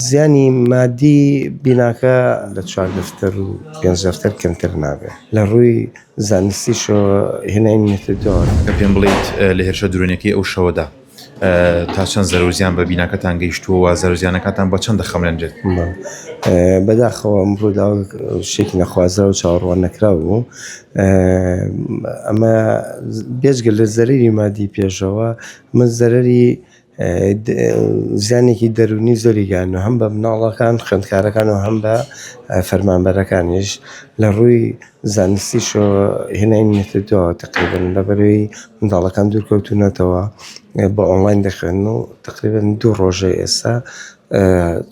زیانی مادی بیناکە لە چوار دەفتەر و پێنج دەفتەر کەمتر نابێت لە ڕووی زانستیشەوە هێنای میتدۆن. کە پێم بڵێیت لە هێرشە درۆنیەکەی ئەو شەوەدا تا چەند زەرەو زیان بە بیناکەتان گەیشتووە و زەرەو زیانەکانتان بە چەند دەخەملێنرێت؟ بەداخەوە ئەم ڕووداو شتێکی نەخوازرا و چاوەڕوان نەکراو بوو ئەمە بێجگە لە زەرەری مادی پێشەوە من زەرەری زیانێکی دەروونی زۆری گەیاندووە هەم بە مناڵەکان خوێندکارەکان و هەم بە فەرمانبەرەکانیش لە ڕووی زانستیشەوە هێنای نەکردووە تەقریبەن لە بەروی منداڵەکان دوورکەوتوونەتەوە بە ئۆنڵاین دەخوێنن و تەقریبەن دوو ڕۆژەی ئێستا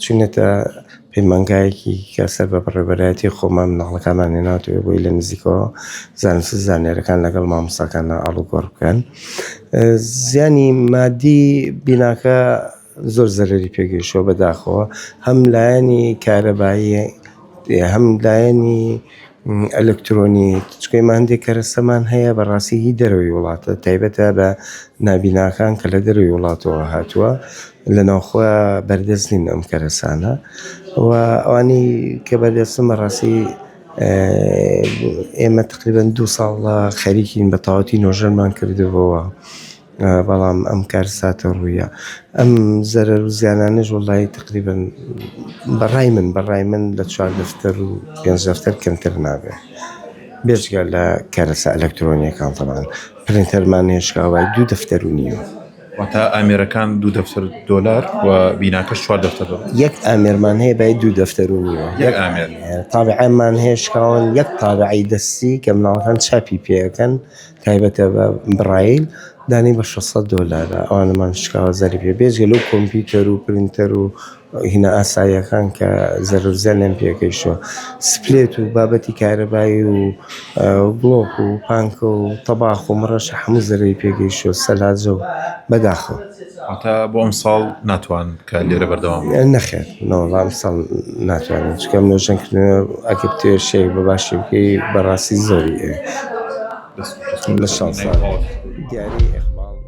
چوینەتە پەیمانگایەکی کە سەر بە بەڕێوەبەرایەتی خۆمان مناڵەکانمان هێناوەتەوێ بۆی لە نزیکەوە زانست و زانیارەکان لەگەڵ مامۆستاکان ئاڵوگۆڕ بکەن زیانی مادی بیناکە زۆر زەرری پێگەیشتوە بەداخەوە هەم لایەنی کارەباییە هەم لایەنی ئەلکترۆنی چکەی ما هەندێک کەرەسەمان هەیە بەڕاستی هی دەرەوەی وڵاتە تایبەتە بە نابیناکان کە لە دەروی وڵاتەوە هاتووە لە ناوخۆ بەردەست نین ئەم کەرەسانە و ئەوانی کە بەردەستن بەڕاستی ئێمە تقریبەن دوو ساڵە خەریکین بە تەواوەتی نۆژەنمان کردبەوە بەڵام ئەم کار ساتە ڕوویە ئەم زەرەر و زیانانەش وڵی تقریبن بەڕای من بەڕای من لە چوار دەفتەر و پێ دەفتەر کەمتر نابێ بێژگە لە کەرەسە ئەلەکترۆنیەکان تەمان پرینتەرمان هێشکاوای دوو دەفتەر و نیوە. واتە ئامێرەکان دوو دەفتەر دۆلار و بیناکەش چوار دەفتەر دۆلار یەک ئامێرمان هەیە بە دوو دەفتەر و نیوە یەک ئامێر تابعەمان هەیە شکاون یەک تابعی دەستی کە مناڵەکان چاپی پێەکەن تایبەتە بە بڕایل دانی بە 600 دۆلارە ئەوانمان شکاوە زەری پێ بێژگە لەو کۆمپیوتەر و پرینتەر و هینا ئاساییەکان کە زەرورزیان لێم پێگەیشتوە سپلێت و بابەتی کارەبایی و بڵۆک و پانکە و تەباخ و مڕەشە حەموو زەرەی پێگەیشتوە سەلاجە و بەداخەوە. واتە بۆ ئەمساڵ ناتوان کە لێرە بەردەوام نەخێر نەوەڵا ئەمساڵ ناتوانین چکە نۆژەن کردنەوە ئەگە بتوێ شێک بە باشی بکەی بەڕاستی زۆری لە شانسان دیاری ئەخباڵ.